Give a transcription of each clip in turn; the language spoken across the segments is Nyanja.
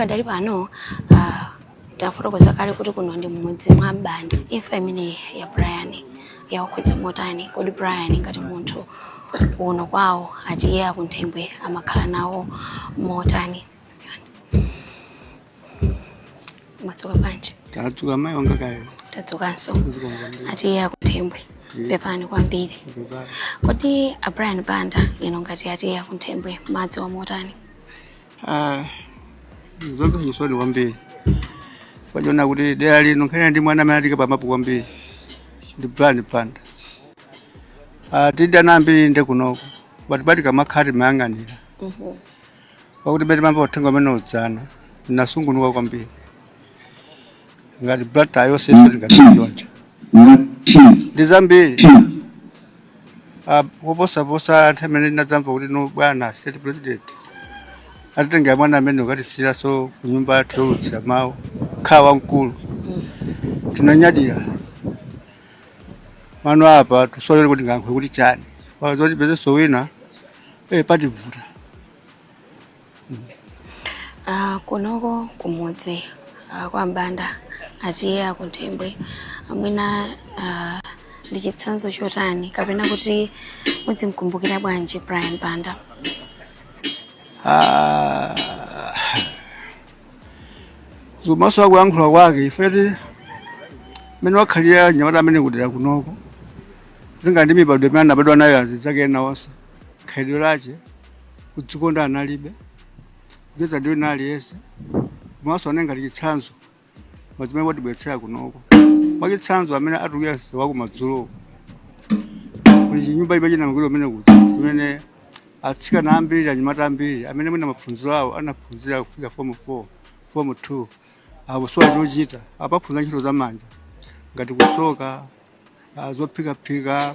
Pakadali pano uh, tafotokoza kale kuti kuno ndi mmudzi mwa Mbanda. Imfa imene ya Brian yawakhudza motani? Kodi Brian ngati munthu kuno kwawo a T/A a Kunthembwe amakhala nawo motani? Mwadzuka bwanji? Tadzuka mai wanga kaya. Tadzukanso. A T/A a Kunthembwe. Pepani kwambiri. Kodi a Brian Banda inu ngati a T/A a Kunthembwe mmadziwa motani? Ah, zomvetsa chisoni kwambiri pakuona kuti dera lino nkhani ndi mwana amene watiika pamapu kwambiri ndi Brian Banda ah, tili ndi ana ambiri ndi kunoko but pa tikamakhala timayang'anira pakuti mmene timamva uthenga umenewu dzana nasungunuka kwambiri ngati Blantyre yonse ife ndikatichonja ndi zambiri Ah, kuposaposa nthawi imene ndinadzamva kuti no bwana state president atitengera mwana ameneyu katisira so kunyumba yathu youlutsira mawu kukhala wamkulu tinanyadira mano apa tusowa kuti tingayankhule kuti chani pazoti tipezeso wina eh pativuta Ah, kunoko kumudzi ah, kwa Mbanda a T/A a Kunthembwe mwina ah, ndi chitsanzo chotani kapena kuti mudzimkumbukira bwanji Brian Banda Ah, kumasuka kuyankhula kwake ife ndi mmene wakhalira mnyamata ameneyu kudera kunoko kulinga ndi mibadwo imene anabadwa nayo azinzake ena onse khalidwe lache kudzikonda analibe kucheza ndi wina aliyense komanso anali ngati chitsanzo pa zimene watibweretsera kunoko mwachitsanzo amene atuluka msewu wa kumadzulo kuli chinyumba chimene chinamangidwa kumene kuti zimene atsikana ambiri anyamata ambiri amene mwina maphunziro awo anaphunzira kufika fomu 4 fomu 2 akusowa chochita akuphunzira ntchito za manja ngati kusoka ah, zophikaphika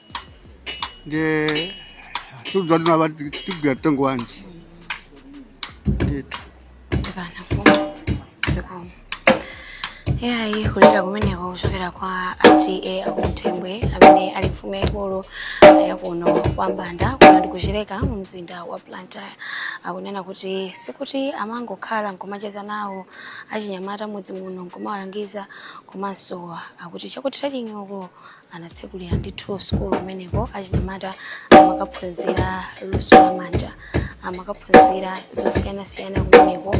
nde sitikudziwa kuti apa tigwira mtengo wanji ndithu Ndibana mfumu zikomo iyayi kulira kumeneko kuchokera kwa a T/A a Kunthembwe amene ali mfumu yaikulu yakuno kwa Mbanda kuno ndi ku Chileka mu mzinda wa Blantyre akunena kuti sikuti amangokhala nkumacheza nawo achinyamata m'mudzi muno nkumawalangiza komanso akuti cha ku trading uko anatsekulira ndithu sukulu kumeneko achinyamata amakaphunzira luso la manja amakaphunzira zosiyanasiyana kumeneko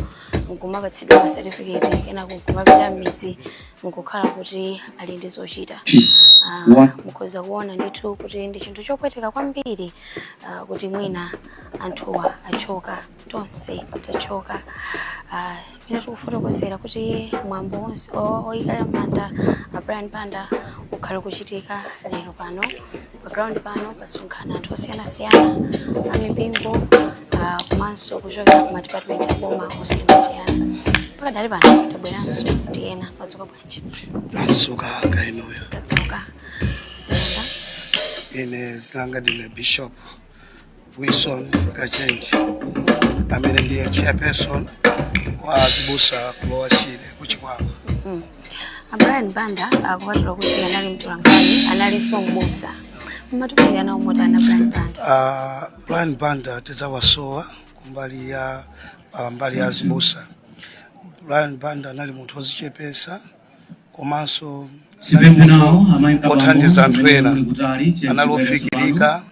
nkumapatsidwa masetifiketi kenako nkumapita m'midzi nkukhala kuti ali ndi zochita Ah, mukhoza kuona ndithu kuti ndi chinthu chopweteka kwambiri ah, kuti mwina anthuwa achoka tonse tachoka Ah, pamene tikufotokozera kuti mwambo wonse o- oyikala manda a brian banda ukhale kuchitika lero pano pa ground pano pasonkhana anthu osiyanasiyana amipingo ah, komanso kuchokera ku madipatimenti aboma osiyanasiyana pakadali pano tabweranso ndi ena madzuka bwanji tadzuka kainoyo tadzuka zayenda ine zilanga ndine bishop Wilson Kachenji amene ndiye chairperson wa azibusa ku Lower Shire ku Chikwawa A Brian Banda kupatula kuti anali mtolankhani analinso mbusa mmatumikira nawo motani a Brian Banda Ah, Brian Banda tidzawasowa kumbali ya ah, mbali ya azibusa Brian Banda anali munthu ozichepesa komanso anali munthu othandiza anthu ena anali ofikirika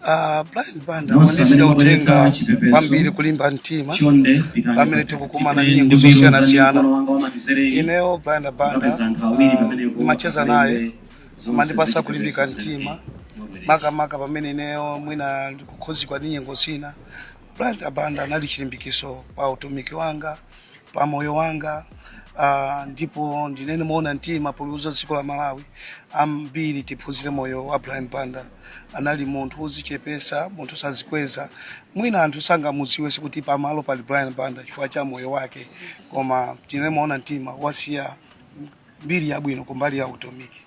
Uh, Brian Banda wandisiyira uthenga kwambiri kulimba mtima pamene tikukumana ndi nyengo zosiyanasiyana ineyo Brian Banda ndimacheza uh, naye amandipasa kulimbika mtima makamaka pamene ineyo mwina ndikukhudzidwa ndi nyengo zina Brian Banda anali chilimbikiso pa utumiki wanga pa moyo wanga uh, ndipo ndinene mowona mtima poliuza dziko la Malawi ambiri tiphunzire moyo wa Brian Banda. Anali munthu wozichepesa, munthu osazikweza, mwina anthu sangamudziwe sikuti pamalo pali Brian Banda chifukwa cha moyo wake, koma tinene mowona mtima wasiya mbiri yabwino kumbali ya utumiki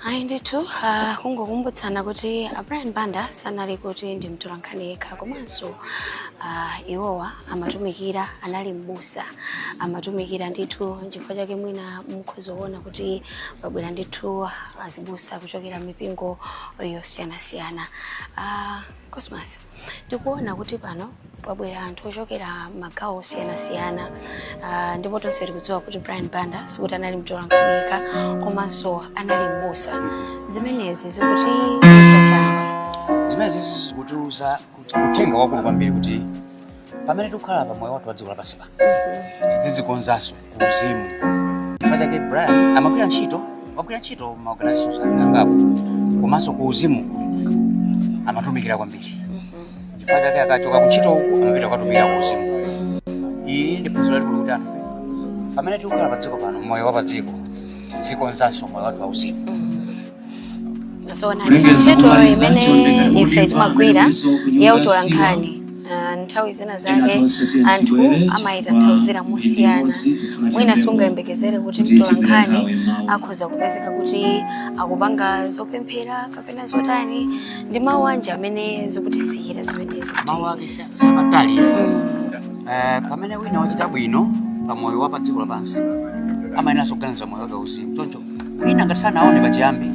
ayi ndithu uh, kungokumbutsana kuti a brian banda sanali kuti ndi mtolankhani yekha komanso uh, iwowa amatumikira anali mbusa amatumikira ndithu nchifukwa chake mwina mukhoza kuona kuti pabwera ndithu azibusa kuchokera m'mipingo yosiyanasiyana uh, cosmas tikuona kuti pano pabwera anthu ochokera magawo osiyanasiyana uh, ndipo tonse tikudziwa kuti brian banda sikuti anali mtolankhani yekha komanso anali mbusa zimenezi zikutiuza chani zimenezi zikutiuza kuti uthenga wakulu kwambiri kuti pamene tikukhala pa moyo wathu wa dziko lapansi pano tidzizikonzanso ku uzimu chifukwa chake brian amagwira ntchito wagwira ntchito ma organizations angapo komanso ku uzimu amatumikira kwambiri chifukwa chake akachoka ku ntchito uku amapita kukatumikira ku uzimu iyi ndi phunziro lalikulu kuti anthufe pamene tikukhala pa dziko pano moyo wa pa dziko tidzikonzanso moyo wathu wa uzimu zona ntchito imene ife timagwira ya utolankhani ah, nthawi zina zake anthu amayitanthauzira mosiyana mwina sungayembekezere kuti mtolankhani akhoza kupezeka kuti akupanga zopemphera kapena zotani ndi mawu anji amene zikutisiyira zimenezi mawu ake si- si abatali Eh, pamene wina wachita bwino pa moyo wa pa dziko lapansi amayenera kuganiza moyo wake uzimu choncho wina ngati sanaone pachiyambi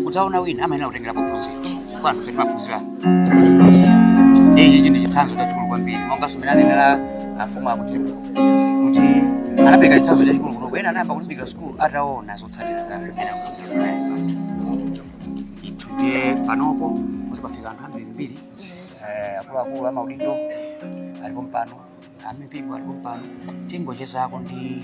kudzaona wina amayenera kutengera pophunzira chifukwa anthu fe timaphunzira zilizonse ichi ndi chitsanzo chachikulu kwambiri monganso mene anenera afumu a Kuntembwe kuti anapereka chitsanzo chachikulu kunoku ena anayamba kulimbikira sukulu ataona zotsatira za amene a Kuntembwe ndithu ndiye panopo kuti pafika anthu ambirimbiri eh, akuluakulu amaudindo ali pompano amipingo ali pompano tingochezako ndi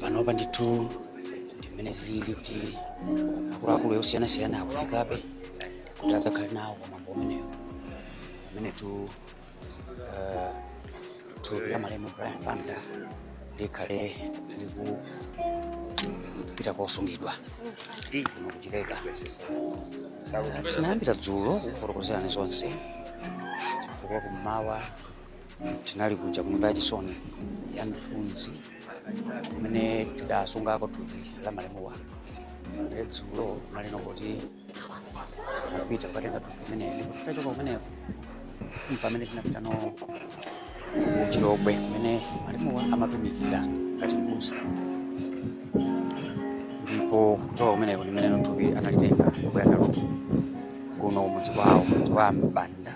panopa ndithu ndimene zilili kuti akuluakulu osiyanasiyana akufikabe kuti adzakhale nawo pa mwambo umenewu pamene tu eh, thupi la malemu Brian Banda likhale likupita kosungidwa kuno ku Chileka tinayambira dzulo kukufotokozerani zonse chifukwa kummawa tinali kuja kunyumba ya chisoni ya Mthunzi kumene tidasungako thupi la malemuwa ndiye dzulo tinali kuti tinapita kukatenga thupi kumeneko titachoka kumeneko pamene tinapitano ku Chilobwe kumene malemuwa amatumikira ngati mbusa ndipo kuchoka kumeneko ndimene thupi analitenga kubwera nalo kuno mudzi wawo mudzi wa Mbanda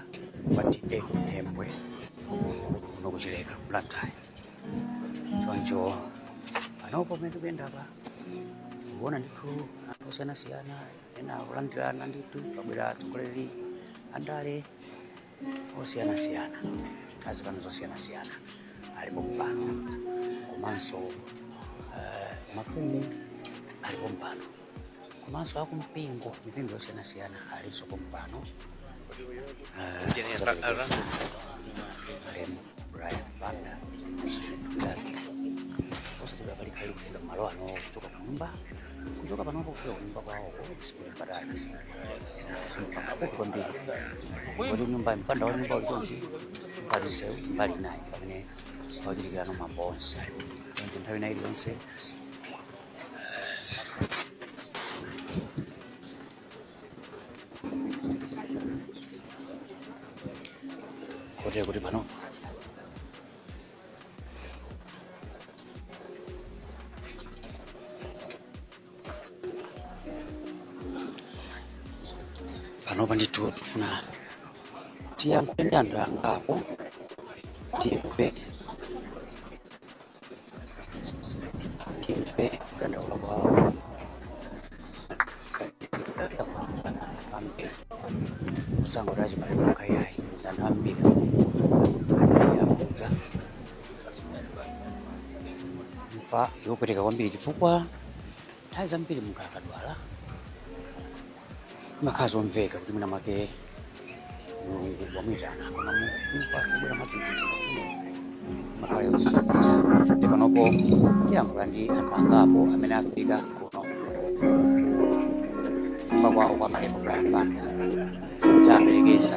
wa TA Kuntembwe kuno ku Chileka ku Blantyre choncho panopo pamene tikuyendapa kuona ndithu anthu osiyanasiyana ena akulandirana ndithu pabwera atsogoleri andale osiyanasiyana azipani zosiyanasiyana ali pompano komanso eh, mafumu ali pompano komanso akumpingo mipingo yosiyanasiyana alinso pompano Eh, kudzaperekeza malemu Brian Banda ndani osati bakali kali kufika kumalo ano kuchoka kunyumba kuchoka panopo kufika kunyumba kwawo sikutali pafupi kwambiri kuti nyumba mpanda wa nyumba uli pompa ndi mbali naye pamene pakuchitikirano mwambo onse ndi nthawi nayi zonse kotero kuti pano panopa ndithu tikufuna tiyankhule ndi anthu angapo timve timve kudandaula kwawo ambiri musango tachibale yayi ndanthu ambiri amene akudza imfa yopweteka kwambiri chifukwa nthawi zambiri munthu akadwala imakhala zomveka kuti mwina mwake mulungu wamuyitana koma imfa yobwera mwadzidzidzi imakhala yodzidzimutsa nde panopo ndiyankhula ndi anthu angapo amene afika kuno kunyumba kwawo kwa malemu Brian Banda kudzaperekeza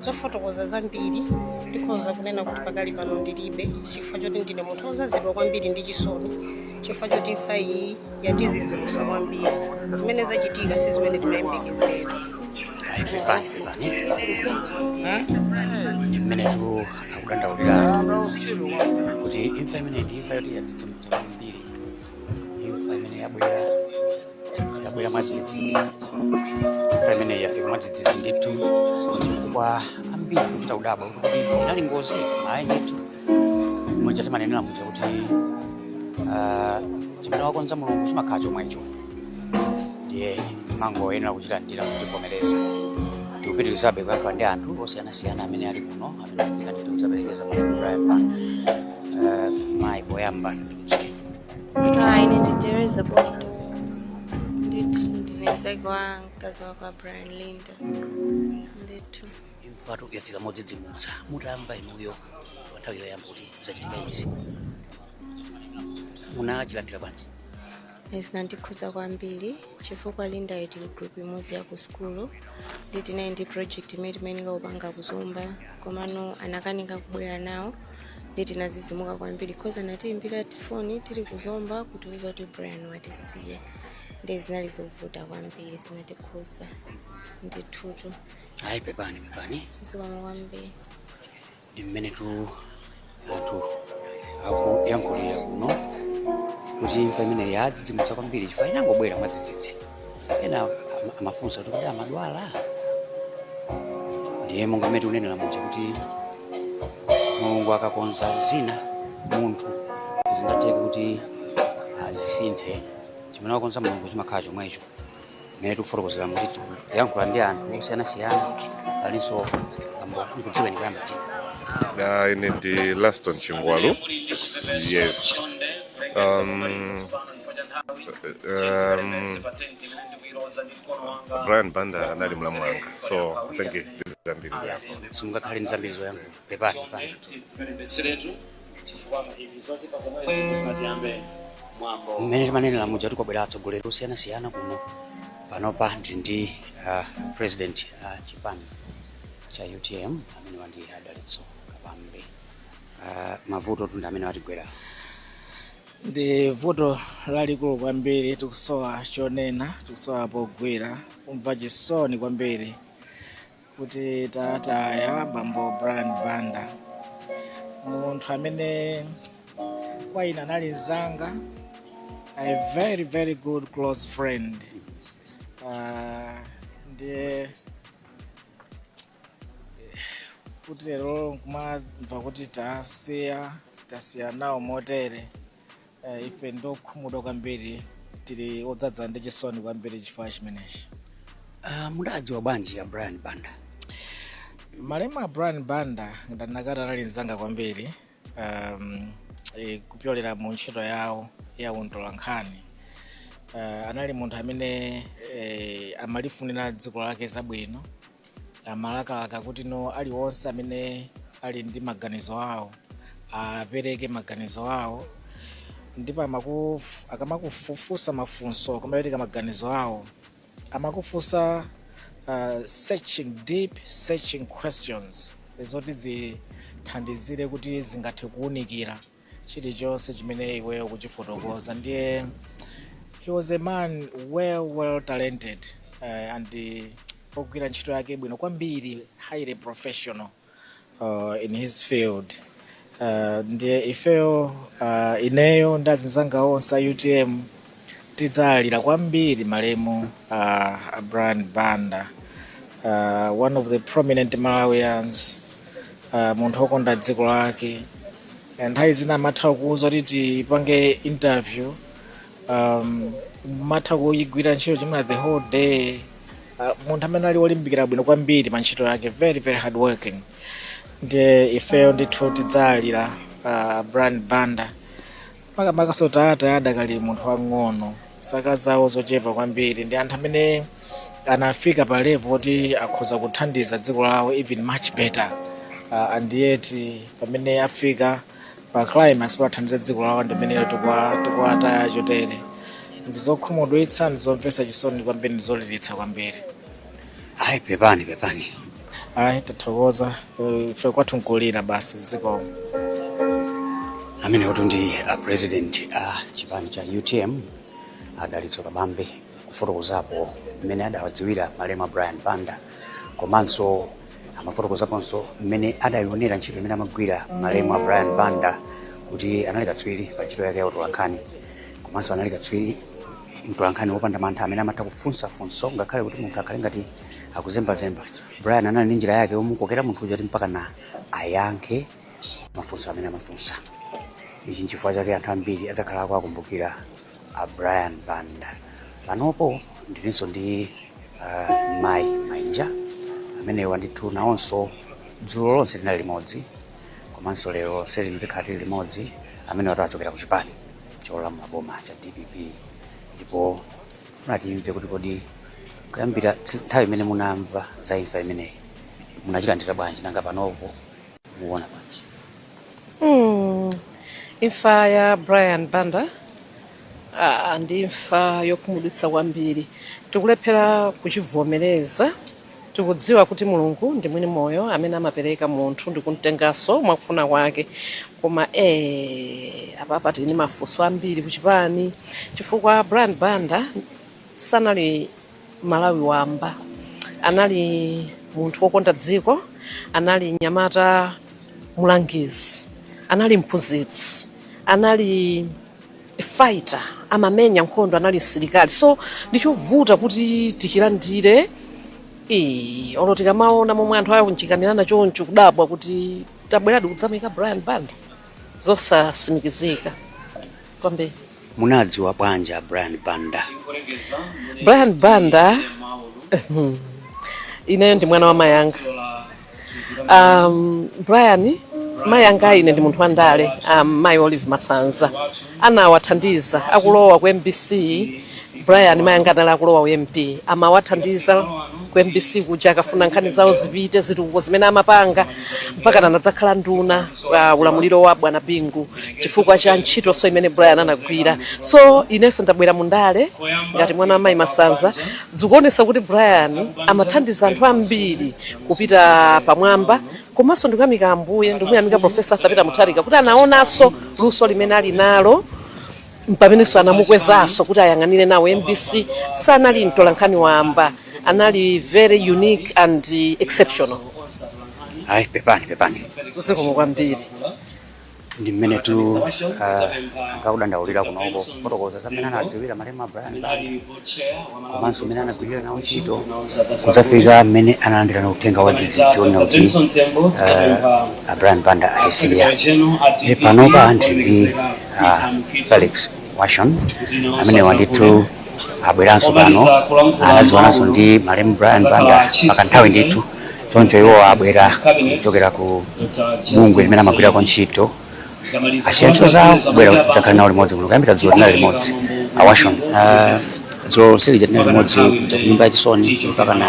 zofotokoza zambiri ndikhoza kunena kuti pakali pano ndilibe chifukwa choti ndine munthu wozazidwa kwambiri ndi chisoni chifukwa choti imfa iyi yatizizimusa kwambiri zimene zachitika si zimene timayembekezera ayi pepani pepani ndi mmenetu akudandaulira anthu kuti imfa imene ndi imfa yoti yadzidzimutsa kwambiri imfa imene yabwera yabwera mwadzidzidzi imfa imene yafika mwadzidzidzi ndithu chifukwa ambiri kuchita kudabwa kuti inali ngozi ayi ndithu muja timanenera muja kuti ah, chimene wakonza mulungu chimakhala chomwecho ndiye timangoyenera kuchilandira kuchivomereza tikupitirizabe kuyankhula ndi anthu osiyanasiyana amene ali kuno amene afika ndithu kudzaperekeza malemu Brian Banda mayi poyamba Hi, ine ndi Teresa Bondo. Ndithu ndine mzake wa mkazi wake wa Brian Linda. Ndithu. imfatu yafika modzidzimutsa mutamva inuyo pa nthawi yoyamba kuti zachitika izi munachilandira bwanji zinandikhuza kwambiri chifukwa lindayo tili group imodzi ya ku sukulu nde tinali ndi project imene timayenera kupanga ku Zomba komano anakanika kubwera nawo nde tinazizimuka kwambiri cause anatiimbira foni tili ku Zomba kutiuza kuti Brian watisiya nde zinali zovuta kwambiri zinatikhuza ndithutu ayi pepani pepani zikomo kwambiri ndi mmenetu anthu akuyankhulira kuno kuti imfa imeneyi yadzidzimutsa kwambiri chifukwa inangobwera mwadzidzidzi ena amafunsa kuti kodi amadwala ndiye monga mmene tikunenera muja kuti mulungu akakonza zina munthu sizingatheke kuti azisinthe chimene wakonza mulungu chimakhala chomwecho mmene tikufotokozera kuti tikuyankhula ndi anthu osiyanasiyana alinso bambo ndikudziweni kuyamba dzina Uh, ine ndi Laston Chingwalu. Yes. Um, um, Brian Banda anali mlamu wanga. So I think ndizambiri zako. simungakhale ndi zambiri zoyankhula Pepani. mmene timanenera muja kuti kwabwera atsogoleri osiyanasiyana kuno panopa ndi ndi president a chipani cha utm amene ali a dalitso kabambe Ah, mavutotu ndi amene atigwera ndi vuto lalikulu kwambiri tikusowa chonena tikusowa pogwira kumva chisoni kwambiri kuti tataya bambo brian banda munthu amene kwa ine anali mzanga a very very good close friend uh, ndiye kuti lero nkumamva kuti tasiya tasiya nawo motere Eh, ife ndi okhumudwa kwambiri tili odzadza ndi chisoni kwambiri chifukwa chimenechi Ah, mudawadziwa bwanji a brian banda malemu a brian banda ndanena kuti anali mzanga kwambiri um, e, kupyolera mu ntchito yawo ya utolankhani uh, anali munthu amene e, amalifunira dziko lake zabwino amalakalaka kuti no aliwonse amene ali ndi maganizo awo apereke maganizo awo ndipo akamakufufunsa mafunso akamapereka maganizo awo amakufunsa uh, searching deep searching questions zoti zithandizire kuti zingathe kuwunikira chilichonse chimene iweyo ukuchifotokoza ndiye he was a man well well talented uh, and uh, ogwira ntchito yake bwino kwambiri highly professional uh, in his field uh, ndiye ifeyo uh, ineyo ndi azinzanga onse a utm tidzawalira kwambiri malemu uh, a brian banda uh, one of the prominent malawians uh, munthu okonda dziko lake Eh, nthawi zina amatha kuuza kuti tipange interview um, amatha kuyigwira ntchito chimene the whole day uh, munthu amene ali olimbikira bwino kwambiri pa ntchito yake very very hard working ndiye ifeyo ndithu tidzawalira uh, brian banda Makamakanso tawataya adakali munthu wang'ono, zaka zawo zochepa kwambiri, ndi anthu amene anafika pa level oti akhoza kuthandiza dziko lawo even much better uh, and yet pamene afika pa climax poti athandize dziko lawo ndi pamene tikwa- tikuwataya chotere ndizokhumudwitsa ndizomvetsa chisoni kwambiri ndizoliritsa kwambiri Ayi, pepani pepani. Ayi, tathokoza Eh, ife kwathu nkulira basi zikomo. amenewotu ndi a president a chipani cha utm a dalitso kabambe kufotokozapo mmene adawadziwira malemu a brian banda komanso amafotokozaponso mmene adayionera ntchito imene amagwira malemu a brian banda kuti anali katswiri pa ntchito yake ya utolankhani komanso anali katswiri mtolankhani wopanda mantha amene amatha kufunsa funso ngakhale kuti munthu akhale ngati akuzembazemba brian anali ndi njira yake yomukokera munthu uja kuti mpakana ayankhe mafunso amene amafunsa ichi nchifukwa chake anthu ambiri adzakhala akukumbukira a brian banda panopo ndilinso ndi uh, mai mainja amenewa ndithu nawonso dzulo lonse tinali limodzi komanso lero lonse lino tikhala tili limodzi amenewatu achokera ku chipani cholamula boma cha dpp ndipo tifuna timve kuti kodi kuyambira tsi- nthawi imene munamva za imfa imeneyi munachilandira bwanji nanga panopo mukuona bwanji Mm. imfa ya brian banda ah, ndi imfa yokhumudwitsa kwambiri tikulephera kuchivomereza Tikudziwa kuti Mulungu ndi mwini moyo amene amapereka munthu ndikumtenganso mwakufuna kwake koma ee apapa tili ndi mafunso ambiri kuchipani chifukwa Brian Banda sanali Mmalawi wamba anali munthu wokonda dziko anali mnyamata mulangizi anali mphunzitsi anali fighter amamenya nkhondo anali msilikali so ndichovuta kuti tichilandire Ee, olo tikamaona momwe anthu awunjikanirana choncho kudabwa kuti tabweradi kudzamuika brian banda zosatsimikizika kwambiri munadziwa bwanji a brian banda brian banda ineyo ndi mwana wa mai anga um, brian mayi anga, ine ndi munthu wandale um, mayi olive masanza anawathandiza akulowa ku mbc brian mayi anga anali akulowa u MP amawathandiza ku mbc kuja akafuna nkhani zawo zipite zitukuko zimene amapanga mpaka anadzakhala nduna pa ulamuliro wa bwana bingu chifukwa cha ntchitonso imene brian anagwira so inenso ndabwera mu ndale ngati mwana wa mayi masanza Zikuonetsa kuti Brian amathandiza anthu ambiri kupita pamwamba komanso ndikuyamika Ambuye ndikumuyamika Profesa Arthur Peter Mutharika kuti anaonanso luso limene ali nalo mpamenenso anamukwezanso kuti ayang'anire nawo MBC. Sanali mtolankhani wamba, anali very unique and exceptional. Ayi, pepani pepani. Zikomo kwambiri. ndi mmenetu amadandaulira kunoko kufotokoza za mmene anadziwira malemu brian banda komanso mmene anagwirira nawo ntchito kudzafika mmene analandirira uthenga wa dzidzidzi onena kuti eh, a brian banda atisiya e panopa ndili ndi ah, felix washon amenewa ndithu abweranso pano anadziwananso ndi malemu brian banda pa kanthawi ndithu choncho iwo abwera kuchokera ku bungwe limene amagwirako ntchito asiya ntchito zawo kubwera kuti tidzakhale nawo limodzi kuno kuyambira dzulo tinali limodzi awashon dzulo lonse lija tinali limodzi kuja kunyumba ya chisoni mpakana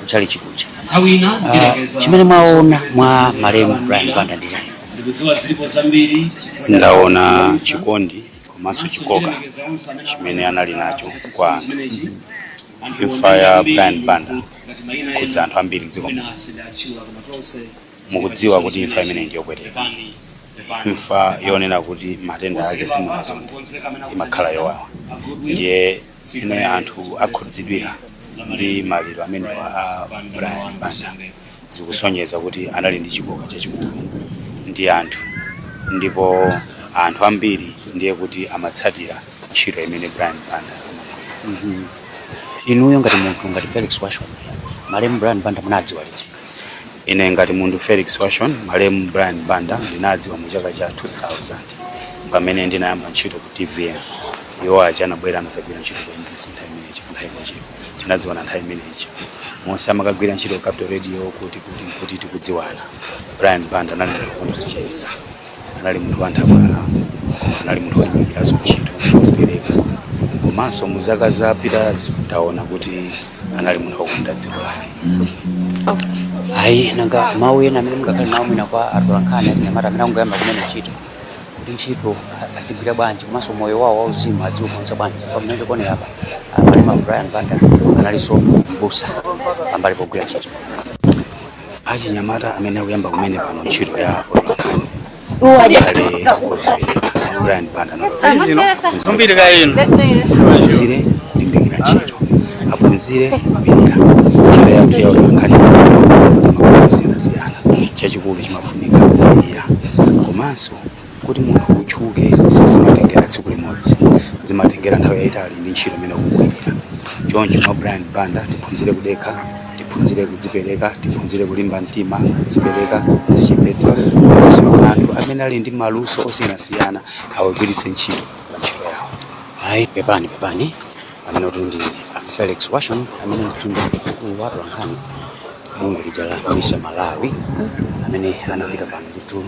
kutchalitchi kuja Ah, chimene mwaona mwa malemu brian banda ndi chani ndikudziwa zilipo zambiri ndaona chikondi komanso chikoka chimene anali nacho kwa anthu imfa ya brian banda yakhudza anthu ambiri mdziko muno mukudziwa kuti imfa imeneyi ndiyopweteka imfa yonena kuti matenda ake simunazonde imakhala yowawa ndiye mmene anthu akhudzidwira ndi maliro amenewa a brian banda zikusonyeza kuti anali ndi chikoka chachikulu ndi anthu ndipo anthu ambiri ndiye kuti amatsatira ntchito imene brian banda amagwira inuyo ngati munthu ngati felix washon malemu brian banda munawadziwa liti Ine ngati munthu Felix Washon, malemu Brian Banda ndinawadziwa mu chaka cha 2000 pamene ndinayamba ntchito ku TVM. Iwo aja anabwera anadzagwira ntchito ku MBC nthawi imene ija nthawi imene ija tinadziwana nthawi imene ija. Monse amakagwira ntchito ku Capital Radio kuti kuti kuti tikudziwana. Brian Banda anali munthu wokonda kucheza. anali munthu wanthabwala koma anali munthu wolimbikiranso ntchito wodzipereka komanso mu zaka zapitazi taona kuti anali munthu wokonda dziko lake ayi nanga mawu ena amene mungakhale nawo mwina kwa atolankhani achinyamata amene angoyamba kumene ntchito kuti ntchito a- adzigwira bwanji komanso moyo wawo wauzimu adziukonza bwanji chifukwa mmene tikuonera apa a malemu brian banda analinso mbusa pambali pogwira ntchito achinyamata amene akuyamba kumene pano ntchito ya utolankhani akhale odzipereka brian banda zino zombiri ka inu aphunzire kulimbikira ntchito aphunzire kupirira ntchito yathu ya utolankhani mavuto osiyanasiyana chachikulu chimafunika kupirira komanso Kuti munthu utchuke sizimatengera tsiku limodzi, zimatengera nthawi yaitali ndi ntchito imene ukugwirira. Choncho mwa Brian Banda tiphunzire kudekha, tiphunzire kudzipereka, tiphunzire kulimba mtima, kudzipereka, kudzichepetsa komanso anthu amene ali ndi maluso osiyanasiyana awagwiritse ntchito pa ntchito yawo. Ayi, pepani pepani, ameneyutu ndi a Felix Washon amenetu ndi mkulu wa atolankhani bungwe lija la Misa Malawi amene anafika pano nditu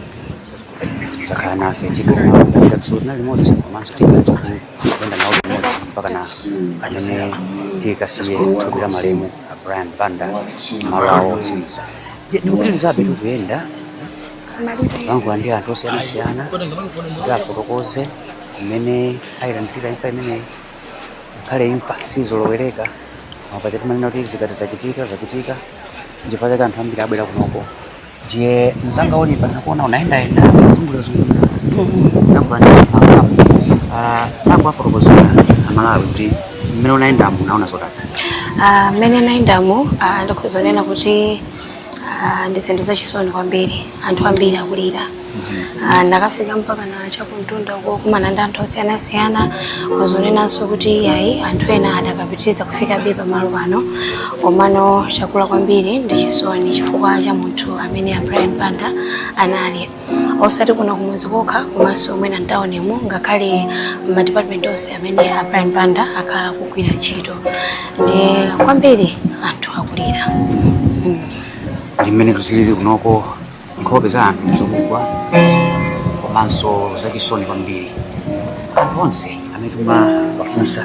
kudzakhala nafe tikhala kulandira kusoti na limodzi komanso tikhala tikuyenda nawo limodzi mpakana mmene tikasiye thupi la malemu a brian banda malo awo otsiriza Ndiye tikupitirizabe tikuyenda kulankhula ndi anthu osiyanasiyana kuti afotokoze mmene ayilandira imfa imeneyi ngakhale imfa sizolowereka ma paja timanena kuti zikachitika zachitika nchifukwa chake anthu ambiri abwera kunoko ndiye mzanga Oliver ndinakuona unayendayenda kuzungulirazungulira tangowafotokozera amalawi kuti mmene unayendamo unaona zotani Ah, mmene ndinayendamo ah, ndikhoza kunena kuti ah, ndi zinthu zachisoni kwambiri anthu ambiri akulira Ah, ndinakafika mpakana chakumtunda uko kumana ndi anthu osiyanasiyana ndikhoza kunenanso kuti ayi anthu ena adakapitiriza kufikabe pamalo pano komano chakula kwambiri ndi chisoni chifukwa cha munthu amene a Brian Banda anali osati kuno kumudzi kokha komanso mwina mtaunimu ngakhale m'madipatimenti onse amene a Brian Banda akhala akugwira ntchito ndiye kwambiri anthu akulira mm. ndi mmene zilili kunoko nkhope za anthu ndi zakugwa komanso zachisoni kwambiri anthu onse amene timawafunsa